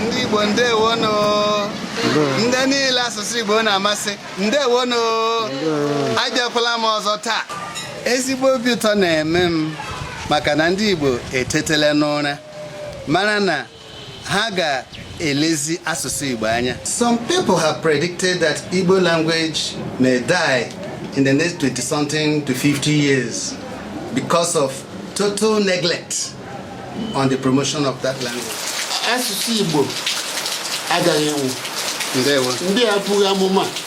ndị igbo ndewonu ndị niile asụsụ igbo na-amasị ndewonu abịakwala m ọzọ taa ezigbo obi ụtọ na-eme m maka na ndị igbo etetele n'ụra mara na ha ga-elezi asụsụ Igbo anya some people have predicted that Igbo language may die in the next 20 something to 50 years because of total neglect on the promotion of that language. asụsụ Igbo agaghị anwụ ndị a bụghị amụma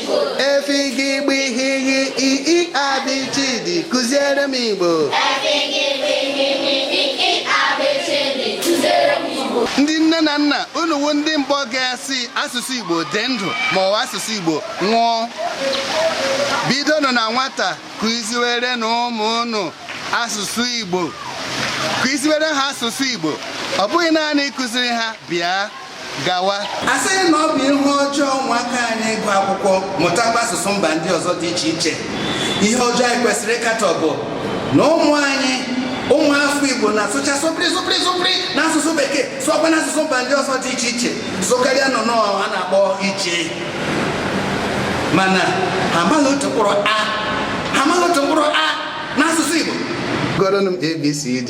E F G GB GH H I Ị A B CH D kụziere m Igbo. Ndị nne na nna unu wụ ndị mbụ ga-asị asụsụ Igbo dị ndụ ma ọ bụ asụsụ Igbo nwụọ. Bidonụ na nwata kụziwerenụ ụmụ unu asụsụ Igbo. Kụziwere ha asụsụ Igbo. Ọ bụghị naanị ịkụziri ha bịa gawa asịghị na ọ bụ ihe ọjọọ ụmụaka anyị ịgụ akwụkwọ mụtakwa asụsụ mba ndị ọzọ dị iche iche ihe ọjọọ anyị kwesịrị ịkatọ bụ na ụmụ anyị ụmụ afọ igbo na-asụcha sụpịrị sụpịrị sụpịrị na asụsụ bekee sụọkwa na asụsụ mba ndị ọzọ dị iche iche sụkarịa nnụnụ a na-akpọ iche mana ha amaghị otu mkpụrụ a ha amaghị otu mkpụrụ a n'asụsụ igbo gụọrọnụ m abcd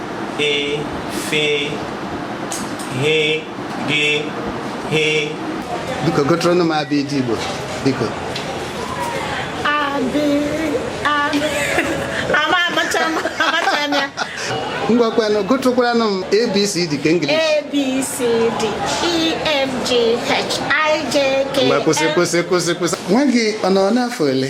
e f g h biko gụtụrụnụ m abd igbo biko ngwakwanụ gụtụkwaranụ m abcd nke english abcd efg hijk ngwa kwụsị kwụsị kwụsị kwụsị nwa gị ọ nọ n'afọ ole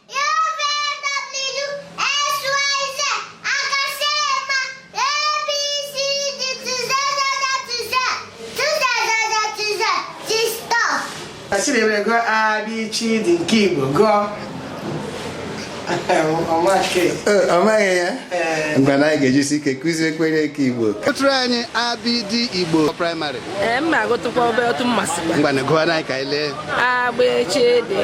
Chidebe gụọ abịchịdị nke Igbo gụọ ọ maghị ya mgbe na anyị ga-ejisi ike kụziekwere eke Igbo gụtụrụ anyị abịdị Igbo praịmarị ngwa gụọ anyị ka anyị lee agbechede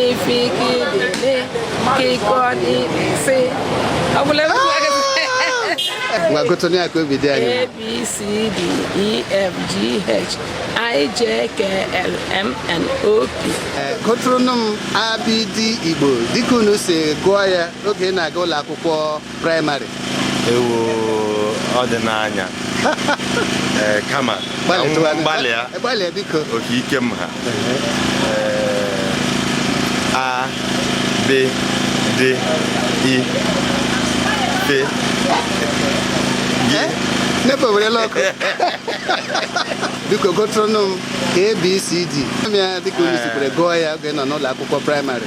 ifikidede kikọdịdịsị ọbụla ngwa gụtụnụ ya ka obi dị anyị a b c d e f g h i j k l m n o p gụtụrụnụ m abd igbo dịka unu si gụọ ya oge ị na-aga ụlọ akwụkwọ praịmarị ewo ọ dị n'anya ee kama ka m Gbalịtụwa- gbalịa gbalịa biko ọ ka ike m ha a b d e f Eh? nepa werela ọkụ biko gụtụrụnụ m abcd ya dịka unu sikwere gụọ ya oge nọ n'ụlọ akwụkwọ praịmarị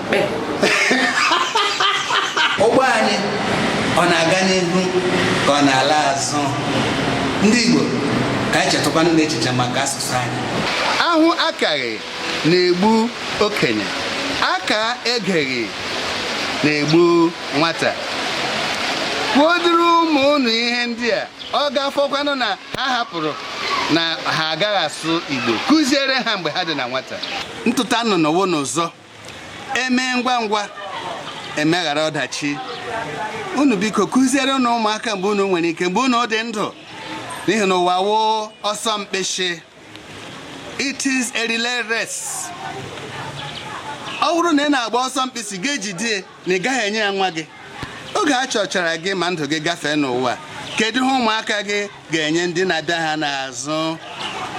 ụgbọ anyị ọ na-aga n'ihu ka ọ na-ala azụ ndị Igbo ka anyị chetụkwanụ n'echiche maka asụsụ anyị ahụ akaghị na-egbu okenye aka egeghị na-egbu nwata kwuoduru ụmụ ụnụ ihe ndị a ọ ga-afọkwanụ na ha hapụrụ na ha agaghị asụ Igbo kụziere ha mgbe ha dị na nwata ntụta nnụnụ wụ n'ụzọ emee ngwa ngwa emeghara ọdachi unu biko kụzierenụ ụmụaka mgbe unu nwere ike mgbe unu dị ndụ n'ihi na ụwa wụ ọsọ mkpịsị it is a relay race ọ bụrụ na ị na-agba ọsọ mkpịsị gị ejide na ị gaghị enye ya nwa gị oge a chọchara gị ma ndụ gị gafee n'ụwa kedu ihe ụmụaka gị ga-enye ndị na-abịa ha n'azụ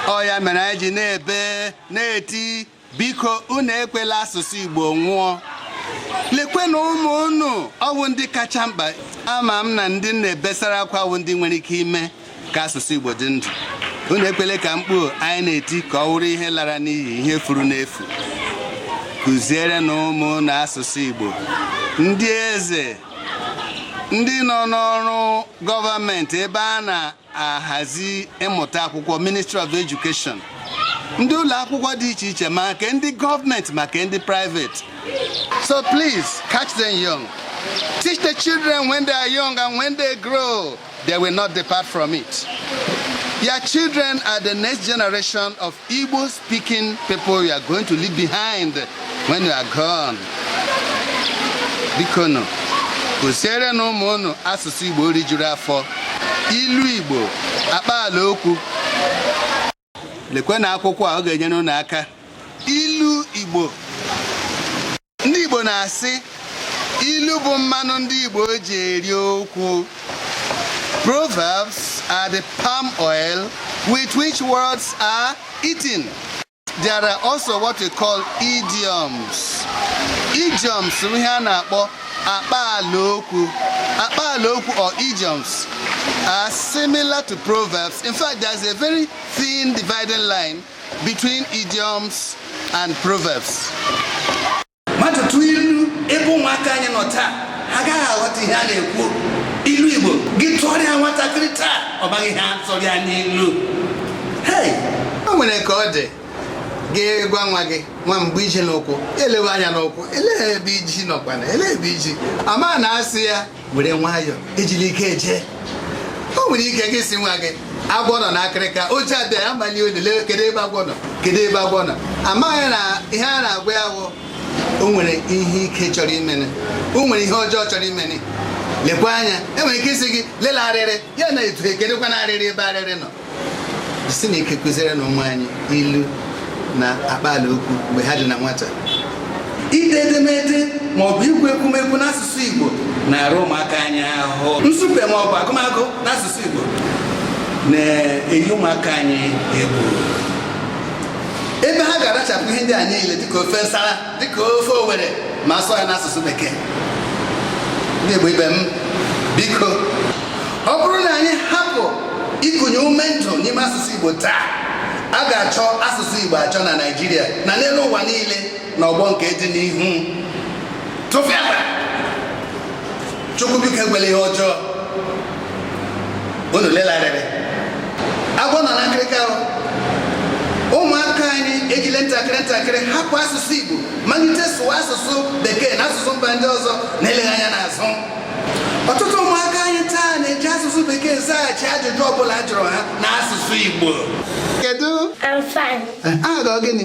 ọ ya mere anyị ji na-ebe na-eti biko unu ekwela asụsụ Igbo nwụọ lekwenụ ụmụ unu ọ wụ ndị kacha mkpa ama m na ndị m na-ebesara akwa wụ ndị nwere ike ime ka asụsụ Igbo dị ndụ unu ekwele ka mkpu anyị na-eti ka ọ wụrụ ihe lara n'iyi ihe furu n'efu kụzierenụ ụmụ unu asụsụ Igbo ndị eze ndị nọ n'ọrụ gọọmenti ebe a na ahazi ịmụta akwụkwọ ministry of education ndị ụlọ akwụkwọ dị iche iche ma nke ndị gọọmenti ma nke ndị private so please catch them young teach the children when they are young and when they grow they will not depart from it your children are the next generation of Igbo speaking people you are going to leave behind when you are gone. Bikonụ, kụzierenụ ụmụ ụnụ asụsụ Igbo rijuru afọ, ilu Igbo, akpaala okwu. Lekwenụ akwụkwọ a ọ ga-enyere ụnụ aka. Ilu Igbo ndị Igbo na-asị ilu bụ mmanụ ndị Igbo ji eri okwu Proverbs are the palm oil with which words are eaten. There are also what we call idioms. Idioms wụ ihe a na-akpọ akpaala okwu akpaala okwu or idioms are similar to proverbs in fact there's a very thin dividing line Between idioms and proverbs. Mmadụ tụọ ilu ebe ụmụaka anyị nọ taa ha agaghị aghọta ihe a na-ekwu ilu Igbo gị tụọrịa nwatakịrị taa ọ baghị ihe a tụrụ ya n'ilu o nwere ka ọ dị gị gwa nwa gị nwa m gbe ji n'ụkwụ elewe anya n'ụkwụ elee ebe ji nọkwana elee ebe ji ama na a sị ya were nwayọọ ejila ike eje o nwere ike gị sị nwa gị agwọ nọ na akịrịka oche abịa ya mali olele kedu ebe agwọ nọ kedu ebe agwọ nọ amaghị na ihe a na-agwa ya wụ o nwere ihe ike chọrọ imene o nwere ihe ọjọọ chọrọ imene lekwa anya e nwere ike ịsị gị lela arịrị ya na etu kedukwana arịrị ebe arịrị nọ si na ike kụziere na ụmụ anyị ilu na akpaala okwu mgbe ha dị na nwata ide edemede ma ọ bụ ikwu ekwumekwu n'asụsụ Igbo na-ara ụmụaka anyị ahụ nsupe ma ọ bụ agụmagụ n'asụsụ Igbo na-eyi ụmụaka anyị egwu ebe ha ga-arachapụ ihe ndị a niile dịka ofe nsara dịka ofe Owere ma a sụọ ya n'asụsụ bekee ndị Igbo ibe m biko ọ bụrụ na anyị hapụ ịkụnye ume ndụ n'ime asụsụ Igbo taa a ga-achọ asụsụ Igbo achọ na Naịjirịa na n'elu ụwa niile na ọgbọ nke dị n'ihu tụfịakwa Chukwu biko ekwela ihe ọjọọ unu lela arịrị agwọ nọ na nkịrịka ụmụaka anyị ejile ntakịrị ntakịrị hapụ asụsụ Igbo malite sụwa asụsụ bekee na asụsụ mba ndị ọzọ na-eleghị anya n'azụ ọtụtụ ụmụaka anyị taa na-eji asụsụ bekee zaghachi ajụjụ ọbụla a jụrụ ha na asụsụ Igbo kedu aha gị gịnị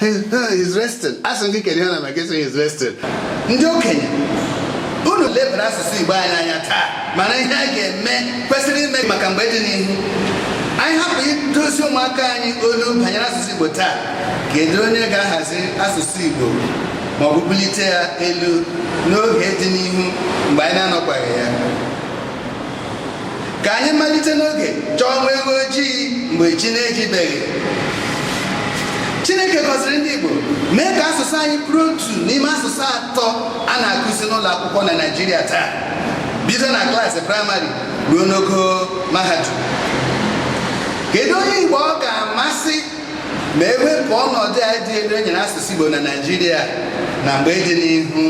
He's resting. A sị gị kedu ihe ọ na-eme ka ị sị he's resting. Ndị okenye unu lebara asụsụ Igbo anyị anya taa mana ihe a ga-eme kwesịrị ime maka mgbe dị n'ihu anyị hapụ idozi ụmụaka anyị olu banyere asụsụ Igbo taa kedu onye ga-ahazi asụsụ Igbo ma ọ bụ bulite ya elu n'oge dị n'ihu mgbe anyị na-anọkwaghị ya ka anyị malite n'oge chọọ nwa ewu ojii mgbe chi na-ejibeghị Chineke gọziri ndị Igbo mee ka asụsụ anyị bụrụ otu n'ime asụsụ atọ a na-akụzi n'ụlọ akwụkwọ na Naịjirịa taa bido na klaasị praịmarị ruo n'ogo mahadum kedu onye Igbo ọ ga-amasị ma e wepụ ọnọdụ a dị elu e nyere asụsụ Igbo na Naịjirịa na mgbe dị n'ihu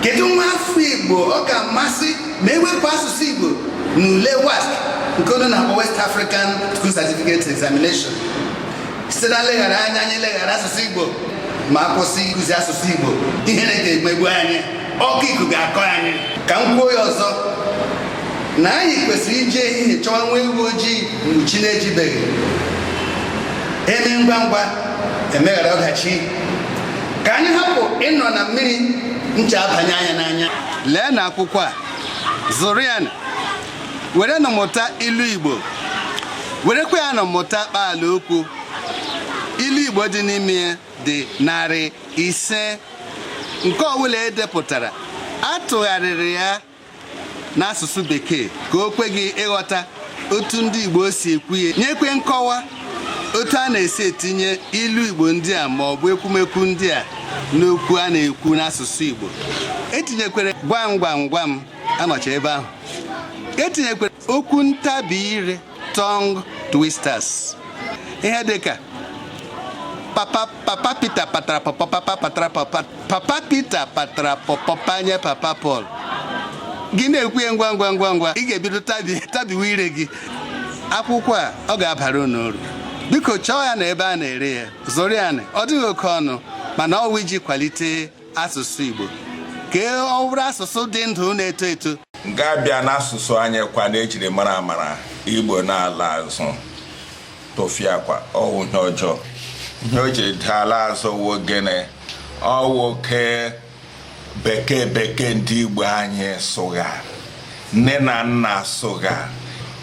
kedu nwa afọ Igbo ọ ga-amasị ma e wepụ asụsụ Igbo na ule WASC nke unu na-akpọ West African School Certificate Examination site na nleghara anya anyị leghara asụsụ Igbo ma a kwụsị ịkụzi asụsụ Igbo ihere ga-emegbu anyị ọkọ iku ga-akọ anyị ka m kwuo ya ọzọ na anyị kwesịrị iji ehihie chọwa nwa ewu ojii mgbe chi na-ejibeghị eme ngwa ngwa emeghara ọdachi ka anyị hapụ ịnọ na mmiri ncha abanye anyị n'anya leenụ akwụkwọ a zụrụ ya nụ werenụ mụta ilu Igbo werekwa ya nụ mụta kpaala okwu ilu Igbo dị n'ime ya dị narị ise nke ọbụla edepụtara atụgharịrị ya n'asụsụ bekee ka o kwe gị ịghọta otu ndị Igbo si ekwu ya nyekwe nkọwa otu a na-esi etinye ilu Igbo ndị a ma ọ bụ ekwumekwu ndị a n'okwu a na-ekwu n'asụsụ Igbo etinyekwere gwam gwam gwam anọcha ebe ahụ etinyekwere okwu ntabi ire tongue twisters ihe dịka papa papa Peter patara papa papa patara papa papa Peter patara pọpọ panye papa Paul gị na-ekwu ya ngwa ngwa ngwa ngwa ị ga-ebido tabiwe ire gị akwụkwọ a ọ ga-abara unu uru biko chọọ ya na ebe a na-ere ya zụrụ ya ọ dịghị oke ọnụ mana ọwụ iji kwalite asụsụ Igbo ka ọ bụrụ asụsụ dị ndụ na-eto eto ga-abịa n'asụsụ anyị kwa na ejiri mara amara Igbo na-ala azụ tụfịakwa ọwụ ihe ọjọọ ihe o ji ala azụ wụ gịnị ọwụ oke bekee bekee ndị Igbo anyị sụgha nne na nna sụgha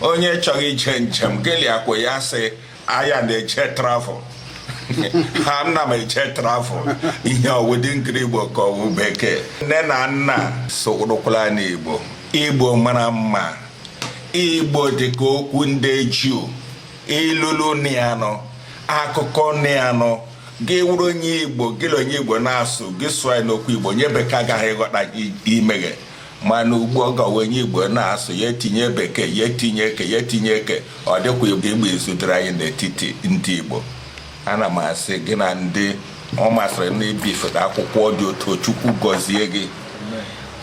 onye chọrọ ije njem gị la ya kwuo ya sị aya na-eje travel ana m eje travel ihe ọwụdị nkiri igbo ka ọwụ bekee nne na nna sụrụkwala n'igbo igbo mara mma igbo dịka okwu ndị juu ilulu nịanụ akụkọ nịanụ gị wụrụ onye igbo gị na onye igbo na-asụ gị sụọ ya n'okwu igbo onye bekee agaghị ịghọta imeghe mana ugbu ọ gawa onye igbo na-asụ ya etinye bekee ya etinye eke ya etinye eke ọ dịkwa ịgba izu dịrị anyị n'etiti ndị igbo ana m asị gị na ndị ọ masịrị na ibifụta akwụkwọ dị otu chukwu gọzie gị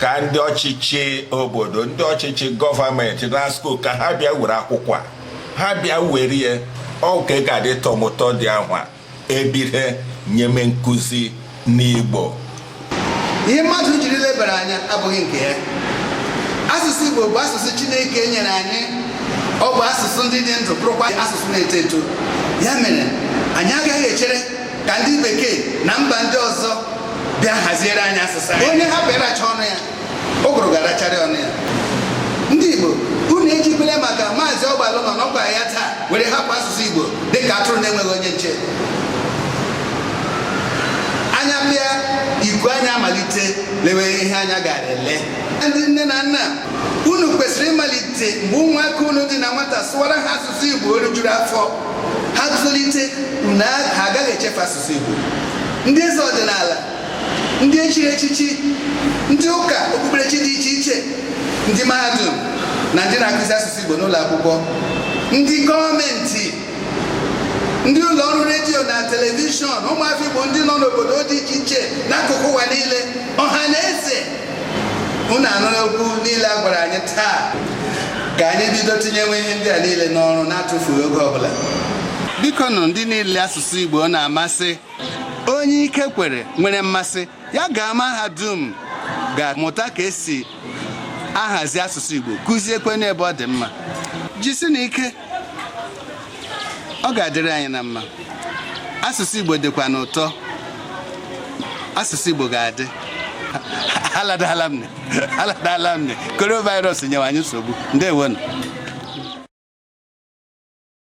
ka ndị ọchịchị obodo ndị ọchịchị gọọmenti na school ka ha bịa were akwụkwọ a ha bịa were ya ọ ka ga-adị tọmụtọ dị ahụ a ebire nyeme nkụzi n'Igbo ihe mmadụ jiri lebara anya abụghị nke ya asụsụ Igbo bụ asụsụ Chineke nyere anyị ọ bụ asụsụ ndị dị ndụ bụrụkwa asụsụ na-eto eto ya mere anyị agaghị echere ka ndị bekee na mba ndị ọzọ bịa haziere anyị asụsụ anyị onye hapụ ịracha ọnụ ya ụgụrụ ga-aracharị ọnụ ya ndị Igbo unu ejikwele maka maazị ọgbalụ na-anọkwaghị ya taa were hapụ asụsụ Igbo dịka atụrụ na-enweghị onye nche anya pịa iku anya amalite lewe ihe anya gara ele ndị nne na nna unu kwesịrị ịmalite mgbe ụmụaka unu dị na nwata sụwara ha asụsụ Igbo orijuru afọ ha tolite na ha agaghị echefu asụsụ Igbo ndị eze ọdịnala ndị echiri echichi ndị ụka okpukperechi dị iche iche ndị mahadum na ndị na-akụzi asụsụ Igbo n'ụlọ akwụkwọ ndị gọọmenti ndị ụlọ ọrụ redio na telivishọn ụmụafọ Igbo ndị nọ n'obodo dị iche iche n'akụkụ ụwa niile ọha na eze unu anụla okwu niile a gwara anyị taa ka anyị bido tinyewe ihe ndị a niile n'ọrụ na-atụfughị oge ọbụla biko nụ ndị niile asụsụ Igbo na-amasị onye ike kwere nwere mmasị ya gaa mahadum gaa mụta ka esi ahazi asụsụ Igbo kụziekwe n'ebe ọ dị mma jisienụ ike ọ ga-adịrị anyị na mma asụsụ Igbo dịkwanụ ụtọ asụsụ Igbo ga-adị aladala m ne aladala m ne coronavirus nyewe anyị nsogbu ndewonụ